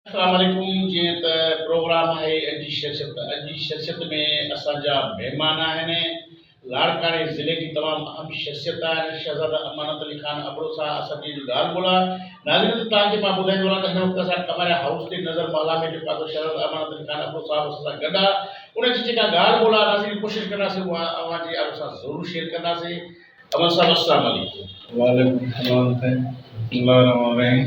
اسلام عليڪم جيئن ته پروگرام آهي اڄ جي شخصيت اڄ جي شخصيت ۾ اسان جا مهمان آهن لاڙڪاڻي ضلعي جي تمام اهم شخصيت آهن شهزاده امانت علي خان ابڙو سان اسان جي اڄ ڳالهه ٻولهه ناظرين توهان کي مان ٻڌائي ٿو رهان ته هن وقت اسان ڪماريا هائوس تي نظر محلا ۾ جيڪو آسان شهزاده امانت علي خان ابڙو صاحب اسان سان گڏ آهي ان جي جيڪا ڳالهه ٻولهه آهي ناظرين ڪوشش ڪنداسين اها اوهان جي آڏو سان ضرور شيئر ڪنداسين امانت صاحب اسلام عليڪم وعليڪم السلام ورحمة الله الرحمن الرحيم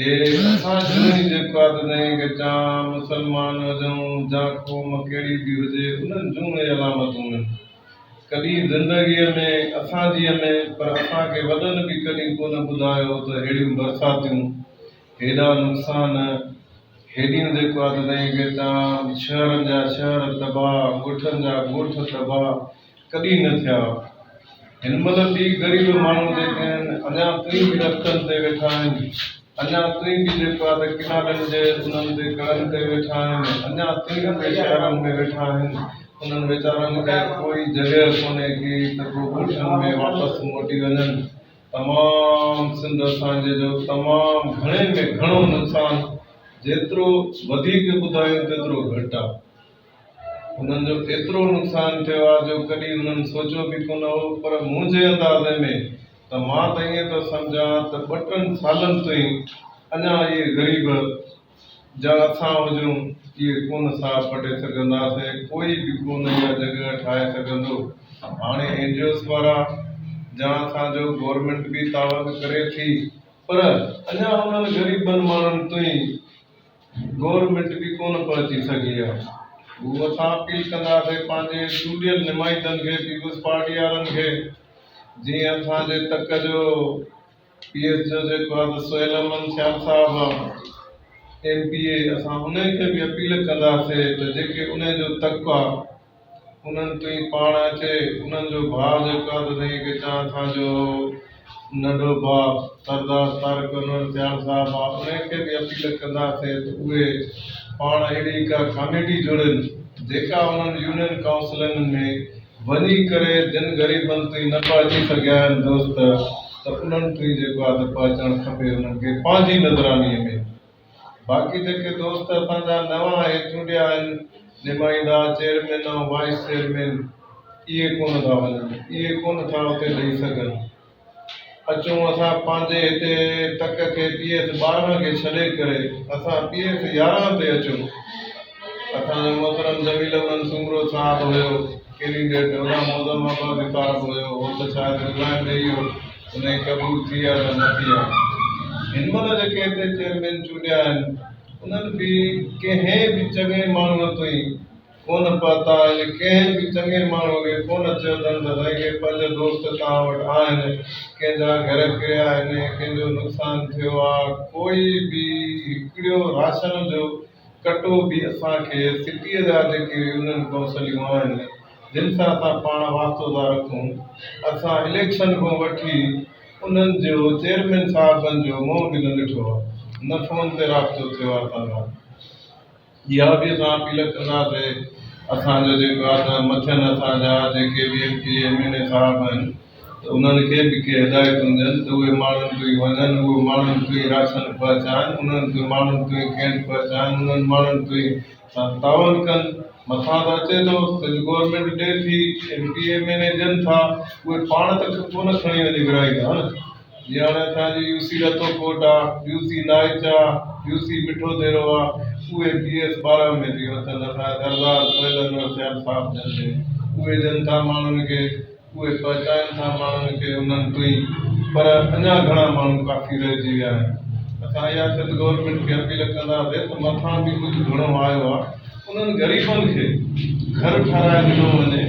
هي اسان جوڻي جيڪو آ ته نئين ڳچان، مسلمان هجون جا قوم ڪهڙي به هجي انهن جون اهي علامتون هن ڪڏهن زندگيء ۾ اسان جيء ۾ پر اسان کي وڏن به ڪڏهن ڪو نه ٻڌايو ته ههڙيون برساتيون، هيڏا نقصان، هيڏيون جيڪو آ ته نئين ڳچان، شهرن جا شهر تباهه، ڳوٺن جا ڳوٺ تباهه، ڪڏهن نه ٿيا. هن مهل به غريب ماڻهو جيڪي آهن، اڃا تائين به رستن تي ويٺا آهن، اڃا تائين به جيڪو آهي ته ڪنالن جي انهن تي ڪڙن تي ويٺا آهن، اڃا تائين به شهرن ۾ ويٺا آهن، انهن ويچارن کي ڪوئي جڳهه ڪونهي ڪي ته ڪو ڳوٺن ۾ واپس موٽي وڃن. تمام سنڌ اسان جي جو تمام گهڻي ۾ گهڻو نقصان جيترو وڌيڪ ٻڌايون تيترو گهٽ آهي. هنن جو ايترو نقصان ٿيو آهي جو ڪڏهن هنن سوچيو به ڪونه هو پر منهنجي اندازي ۾ ته مان ته ائين ٿو سمجهان ته ٻه ٽن سالن تائين اڃا اهي غريب جا اسان هجون اهي ڪونه ساهه پٽي سگهنداسين ڪوئي به ڪونه اها جڳهه ٺاهي سگهندو هاڻي اينجيوز وارا جا اسان جو گورنمينٽ به تعاون ڪري ٿي پر اڃا انهن غريبن ماڻهن تائين گورنمينٽ به ڪونه پهچي سگهي ها گو اسان اپيل ڪنداسين پنهنجي چونڊيل نمائندن کي پيپلز پارٽي وارن کي جي اسان جي تڪ جو پي ايس جو جيڪو آ ته سهيل احمد سيال صاحب آ ايم پي اي اسان انهي کي به اپيل ڪنداسين ته جيڪي انهي جو تڪ آ انهن تي پاڻ اچي انهن جو ڀاء جيڪو آهي ته سائين کي چوان ٿا جو ننڍو ڀاء سردار طارق انور سيال صاحب آهي انهن کي به اپيل ڪنداسين ته اهي پاڻ اهڙي ڪا ڪاميٽي جوڙين جيڪا انهن يونين ڪائونسلن ۾ وڃي ڪري جن غريبن تائين نه پهچي سگهيا آهن دوست ته انهن تائين جيڪو آهي ته پهچڻ کپي انهن کي پنهنجي نظراني ۾ باقي جيڪي دوست اسان جا نوان اهي چونڊيا آهن نمائندا، چيئرمين ۽ وائيس چيئرمين اهي ڪونه ٿا وڃن، اهي ڪونه ٿا اتي ڏئي سگهن. اچون اسان پنهنجي هتي تڪ کي پي ايس ٻارهن کي ڇڏي ڪري اسان پي ايس يارهن تي اچون. اسان جو محترم جميل امن سومرو صاحب هيو ڪينڊيڊيٽ، هوڏانهن معظم آبادي صاحب هيو، هو ته شايد رزائن ڏئي ويو. انهي قبول ٿي يا نه ٿي يا هن مهل جيڪي هتي چيئرمين چونڊيا آهن انهن به ڪنهن به چڱي ماڻهوء تائين ڪونه پهتا آهن ڪنهن به چڱي ماڻهوء کي ڪونه چيو اٿن ته سائين ڪي پنج دوست توهان وٽ آهن ڪنهن جا گهر ڦريا آهن ڪنهن جو نقصان ٿيو آ ڪوئي به هڪڙيو راشن جو ڪٽو به اسان کي سٽيء جا جيڪي يونين ڪونسليون آهن جن سان اسان پاڻ واسطو ٿا رکون، اسان اليڪشن کان وٺي انهن جو چيئرمين صاحبن جو منهن به نه ڏٺو آهي، نه فون تي رابطو ٿيو آهي اسان سان، اها به اسان اپيل ڪنداسي اسان جو جيڪو آهي ته مٿين اسان جا جيڪي به M P M N A صاحب آهن ته انهن کي به ڪي هدايتون ڏين ته اهي ماڻهن تائين وڃن، اهي ماڻهن تائين راشن پهچائن، انهن تائين ماڻهن تائين کينڊ پهچائن، انهن ماڻهن تائين سان تعاون ڪن، مٿان ته اچي ٿو سنڌ گورنمينٽ ڏي ٿي M P M N A ڏين ٿا اهي پاڻ ته ڪونه کڻي وڃي ورهائي ٿا نه جيئن هاڻي اسان جي يو سي رتو ڪوٽ آ يو سي نائچ آ يو سي مٺو ديرو آ اهي پي ايس ٻارهن ۾ ٿي وتن اسان جا سردار سهيل انور سيال صاحب ڏين ٿي اهي ڏين ٿا ماڻهن کي اهي پهچائن ٿا ماڻهن کي انهن تئين پر اڃا گهڻا ماڻهو ڪافي رهجي ويا آهن اسان اها سنڌ گورنمينٽ کي اپيل ڪنداسي ته مٿان به ڪجهه گهڻو آيو آهي انهن غريبن کي گهر ٺهرائي ڏنو وڃي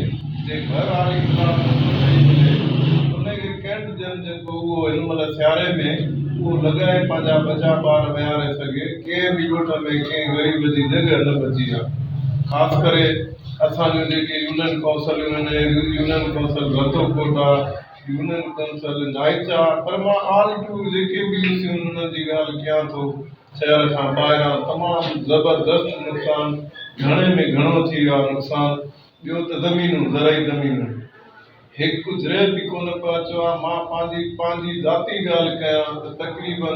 جي گهر آري خلاف ڪجهه ٺهي ملي انهي کي ڪينٽ جن جيڪو اهو هن مهل سياري ۾ اهو لڳائي پنهنجا ٻچا ٻار ويهاري سگهي ڪنهن به ڳوٺ ۾ ڪنهن غريب جي جڳهه نه بچي آهي خاص ڪري اسان جون جيڪي يونين ڪونسلون آهن، يونين ڪونسل ڀرٿو ڪوٽا، يونين ڪونسل نائچا پر مان آل ٽور جيڪي به يو سيون انهن جي ڳالهه ڪيان ٿو، شهر کان ٻاهران تمام زبردست نقصان، گهڻي ۾ گهڻو ٿي ويو آهي نقصان، ٻيو ته زمينون، زرعي زمينون. هڪ ذري به ڪونه پيا چوان، مان پنهنجي پنهنجي ذاتي ڳالهه ڪيان ته تقريباً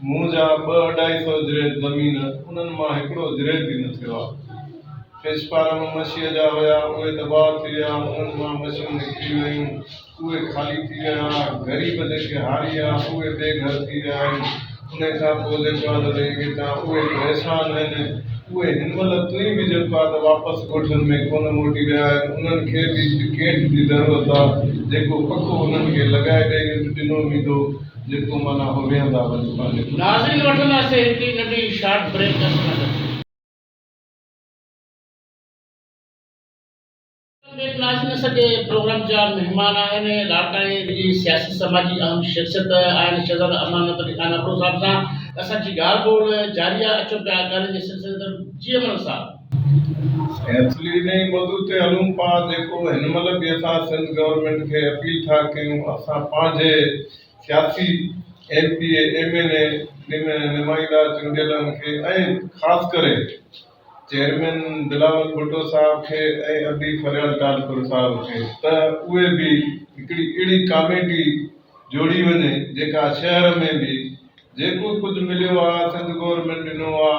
منهنجا ٻه اڍائي سئو ذري زمين انهن مان هڪڙو ذري به نه ٿيو آهي. فش فارم مشيء جا هيا، اهي تباهه ٿي ويا، انهن مان مڇيون نڪري ويون، اهي خالي ٿي ويا، غريب جيڪي هاري هيا، اهي بي گهر ٿي ويا آهن، ان کان پوء لڇمان علي کي تان اهي به احسان آهن. اهي هن مهل تئين به جن بعد واپس ڳوٺن ۾ ڪونه موٽي ويا آهن، انهن کي به هڪ ڪيٺ جي ضرورت آ، جيڪو پڪو انهن کي لڳائي ڏئي ڏنو ويندو، جيڪو معنيٰ هو ويهندا وڃي پنهنجي پٽ. ناظرين وٺنداسين هڪڙي ننڍي شارٽ بريڪ اسڪرنڊ تي. ڪنٽينٽ ناشناسي جي پروگرام جا مهمان آهن لاڙڪاڻي جي سياسي سماجي اهم شخصيت آهن شهزاده امانت علي خان ابڙو صاحب سان اسان جي ڳالهه ٻولهه جاري آهي اچو پيا ڳالهين جي سلسلي تي جي امانت صاحب. سينٿلي جي موضوع تي هلون پا جيڪو هن مهل به اسان سنڌ گورنمينٽ کي اپيل ٿا ڪيون اسان پنهنجي سياسي M P A M N A نمائندا چونڊيلن کي ۽ خاص ڪري چيئرمين بلاول ڀٽو صاحب کي ۽ ادي فريال ٽالپر صاحب کي ته اهي به هڪڙي اهڙي ڪاميٽي جوڙي وڃي جيڪا شهر ۾ به جيڪو ڪجهه مليو آ سنڌ گورنمينٽ ڏنو آ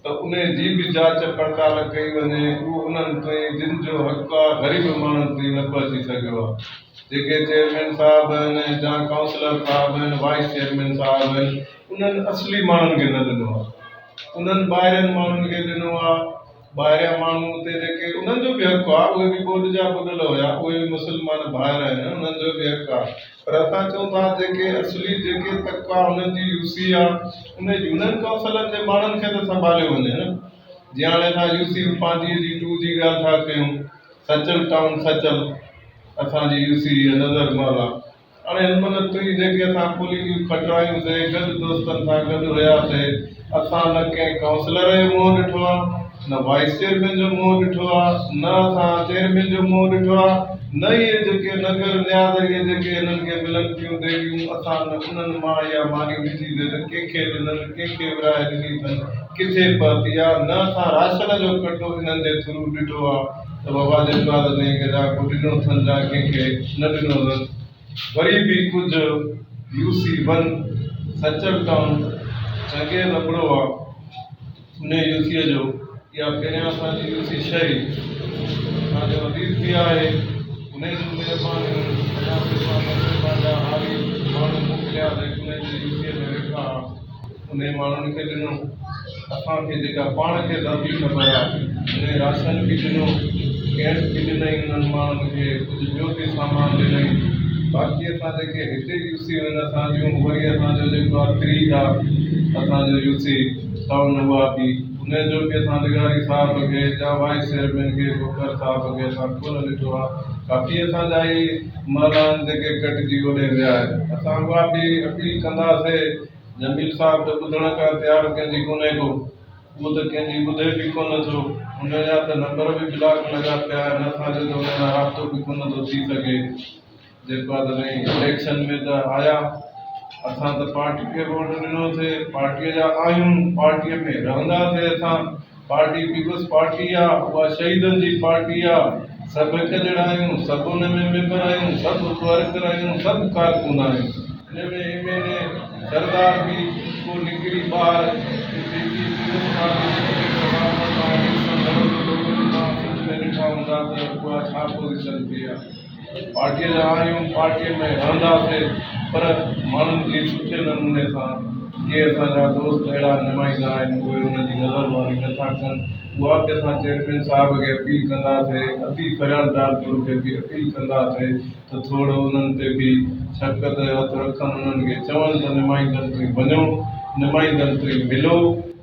ته انهي جي به جاچ پڙتال ڪئي وڃي اهو انهن تائين جن جو حق آ غريب ماڻهن تائين نه پهچي سگهيو آ جيڪي چيئرمين صاحب آهن جا ڪائونسلر صاحب آهن وائيس چيئرمين صاحب آهن انهن اصلي ماڻهن کي نه ڏنو آهي. انهن ٻاهرين ماڻهن کي ڏنو آهي. ٻاهريان ماڻهو اتي جيڪي انهن جو به حق آهي. اهي به ٻوڏ جا ٻڏل هيا. اهي به مسلمان ڀائر آهن. انهن جو به حق آهي. پر اسان چئون ٿا جيڪي اصلي جيڪي تڪ آهي انهن جي يو سي آهي. انهي يونين ڪائونسلن جي ماڻهن کي ته سنڀاليو وڃي نه. جيئن هاڻي اسان يو سي پانڌيء جي ٽو جي ڳالهه ٿا ڪيون. سچل ٽائون سچل اسان جي يو سي هي نظر مهل آهي. اڙي علم الطريق جيڪي اسان کولي جون کٽرايون سي گڏ دوستن سان گڏ هيا سي اسان نه ڪنهن ڪائونسلر جو منهن ڏٺو آ نه وائيس چيئرمين جو منهن ڏٺو آ نه اسان چيئرمين جو منهن ڏٺو آ نه اهي جيڪي نگر نياز اهي جيڪي هنن کي ملن پيون ڏيريون اسان نه انهن مان اها ماني ڏٺي سي ته ڪنهن کي ڏنن ڪنهن کي ورهائي ڏني اٿن ڪٿي پهتي آ نه اسان راشن جو ڪٽو انهن جي ٿرو ڏٺو آ. ته بابا جي اولاد ۾ ڪيڏا ڪو ڏنو اٿن جا ڪنهن کي نه ڏنو اٿن. وري به ڪجهه U C one Sachal town چنگي لبڙو آ انهي يو سيء جو اها پهريان اسان جي يو سي ڇهه ئي اسان جو عزيز پيء آهي انهي جون مهربانيون اڃا به اسان مٿي پنهنجا هاري ماڻهو موڪليا ته انهي جي يو سيء ۾ ويٺا آ. انهن ماڻهن کي ڏنو، اسان کي جيڪا پاڻ کي ذاتي خبر آهي، انهي راشن به ڏنو، ڪئمپ به ڏنئي، انهن ماڻهن کي ڪجهه ٻيو به سامان ڏنئي، باقي اسان جيڪي هتي يوسيون آهن اسان جون اهي ئي اسان جو جيڪو آهي فريج آهي اسان جو يوسي ٽائون اها به انهي جو به اسان لغاري صاحب کي يا وائيس چيئرمين کي کوکر صاحب کي اسان ڪونه ڏٺو آهي، ڪافي اسان جا اهي. معنيٰ آهن جيڪي ڪٽجي اوڏي ويا آهن. اسان اها به اپيل ڪنداسي جميل صاحب ته ٻڌڻ ڪا تيار ڪنهن جي ڪونهي ڪو اهو ته ڪنهن جي ٻڌي به ڪونه ٿو انهن جا ته نمبر به بلاڪ لڳا پيا آهن اسان جو ته انهن سان رابطو به ڪونه ٿو ٿي سگهي جيڪو آهي ته سائين اليڪشن ۾ ته آيا اسان ته پارٽي کي ووٽ ڏنو سي پارٽي جا آهيون پارٽي ۾ رهنداسي اسان پارٽي پيپلز پارٽي آ اها شهيدن جي پارٽي آ سڀ هڪ جهڙا آهيون سڀ ان ۾ ميمبر آهيون سڀ ورڪر آهيون سڀ ڪارڪن آهيون ان ۾ ايم اين اي سردار به ڪو نڪري ٻاهر جيڪي پيپلز پارٽي جي ٽڪيٽ حوال ڪندا آهن سندن ته لوڪل تان سنڌ ۾ ڏٺا هوندا ته اها ڇا پوزيشن ٿي آ. پارٽيء جا آهيون، پارٽيء ۾ رهنداسين پر ماڻهن کي سٺي نموني سان جي اسان جا دوست اهڙا نمائندا آهن اهي انهن جي نظر ماري نه ٿا ڪن اها به اسان چيئرمين صاحب کي اپيل ڪنداسين ادي فريال ڊارپور کي به اپيل ڪنداسين ته ٿورڙو انهن تي به شفقت جو هٿ رکن انهن کي چون ته نمائندن تي وڃو نمائندن تي ملو.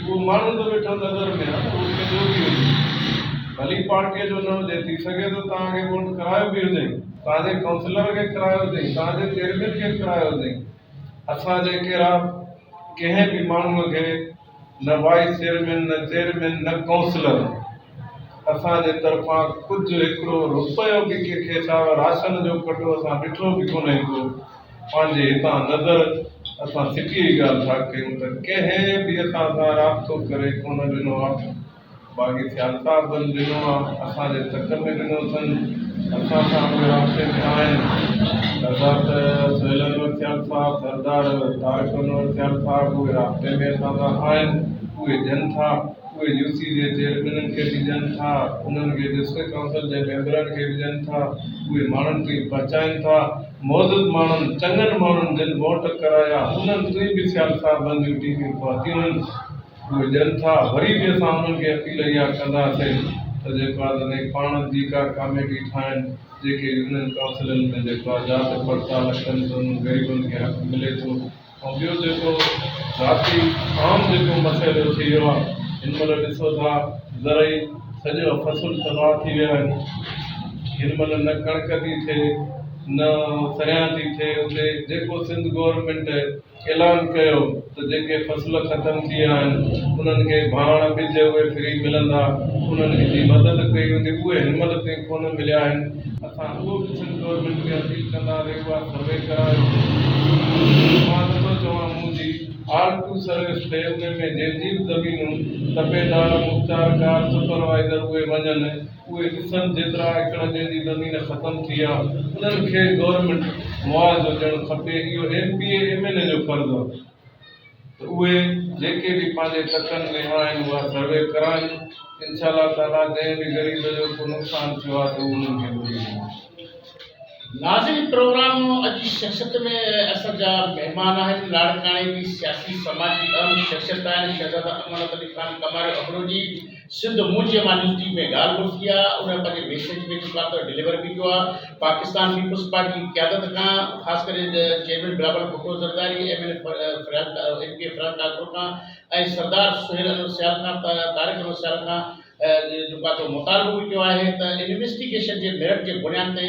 اهو ماڻهو ته ويٺو نظر ۾ آهي اهو ڪنهن ٻيو به هجي ڀلي پارٽيء جو نه هجي ٿي سگهي ٿو توهان کي ووٽ ڪرايو به هجئين توهان جي ڪائونسلر کي ڪرايو هجئين توهان جي چيئرمين کي ڪرايو هجئين اسان جي ڪيرا ڪنهن به ماڻهوء کي نه وائيس چيئرمين نه چيئرمين نه ڪائونسلر اسان جي طرفان ڪجهه هڪڙو روپيو به ڪنهن کي ڇا راشن جو ڪٽو اسان ڏٺو به ڪونهي ڪو پنهنجي هتان نظر اسان سٽيء جي ڳالهه ٿا ڪيون ته ڪنهن به اسان سان رابطو ڪري ڪونه ڏنو آ. باغي سيال صاحبن ڏنو آ، اسان جي تڪ ۾ ڏنو اٿن، اسان سان به رابطي ۾ آهن. سردار سهيل انور سيال صاحب، سردار طارق انور سيال صاحب اهي رابطي ۾ اسان سان آهن، اهي ڏين ٿا، اهي يو سي جي چيئرمينن کي به ڏين ٿا، انهن کي ڊسٽرڪٽ ڪائونسل جي ميمبرن کي به ڏين ٿا، اهي ماڻهن تائين پهچائين ٿا. معزز ماڻهن چڱن ماڻهن جن ووٽ ڪرايا انهن تي به سيال صاحبن جون ٽيمون پهتيون آهن اهي ڏين ٿا وري به اسان انهن کي اپيل اها ڪنداسين ته جيڪو آهي تنهن کي پاڻ جي ڪا ڪاميٽي ٺاهن جيڪي يونين ڪائونسلن ۾ جيڪو آهي جاچ پڙتال ڪن ته انهن غريبن کي حق ملي ٿو ۽ ٻيو جيڪو ذاتي عام جيڪو مسئلو ٿي ويو آهي هن مهل ڏسو ٿا زرعي سڄا فصل تباهه ٿي ويا آهن هن مهل نه ڪڻڪ ٿي ٿئي نه سريان ٿي ٿئي اتي جيڪو سنڌ گورنمينٽ اعلان ڪيو ته جيڪي فصل ختم ٿي ويا آهن انهن کي ڀاڻ ٻج اهي فري ملندا انهن جي مدد ڪئي ويندي اهي هن مهل تائين ڪونه مليا آهن خاطون سنڌ گورنمينٽ کي اپيل ڪندا رهيو آ سروي ڪرايو مان نٿو چوان مون جي آل ٽو سروس ٿئي ان ۾ جيتري به زمينون تپيدار مختيارڪار سپروائيزر اهي وڃن اهي ڏسن جيترا ايڪڙ جن جي زمين ختم ٿي آ انهن کي گورنمينٽ معاوضو ڏيڻ کپي اهو M P A M N A جو فرض آ. ته اهي جيڪي به پنهنجي تڪن ۾ آهن اها سروي ڪرائن انشاء الله تعالي جنهن به غريب جو ڪو نقصان ٿيو آهي ته انهن کي ٻڌي ڏنو. ناظرين پروگرام اڄي شخصيت ۾ اسان جا مهمان آهن لاڙڪاڻي جي سياسي سماجي اهم شخصيت آهن شهزاده امان العلي خان ڪماريو ابڙو جي. سنڌ مونجهي مان نيوزڊيپ ۾ ڳالهه ٻولهه ٿي آهي، انهن پنهنجي ميسيج ۾ چيو آهي ته ڊليور به ڪيو آهي، پاڪستان پيپلز پارٽي جي قيادت کان خاص ڪري chairman Bilawal Bhutto Zardari, M N A Farhan ٽاڪرو کان ۽ سردار سهيل احمد سيال کان طارق احمد سيال کان جيڪو آهي سو مطالبو به ڪيو آهي ته انويسٽيگيشن جي ميرٽ جي بنياد تي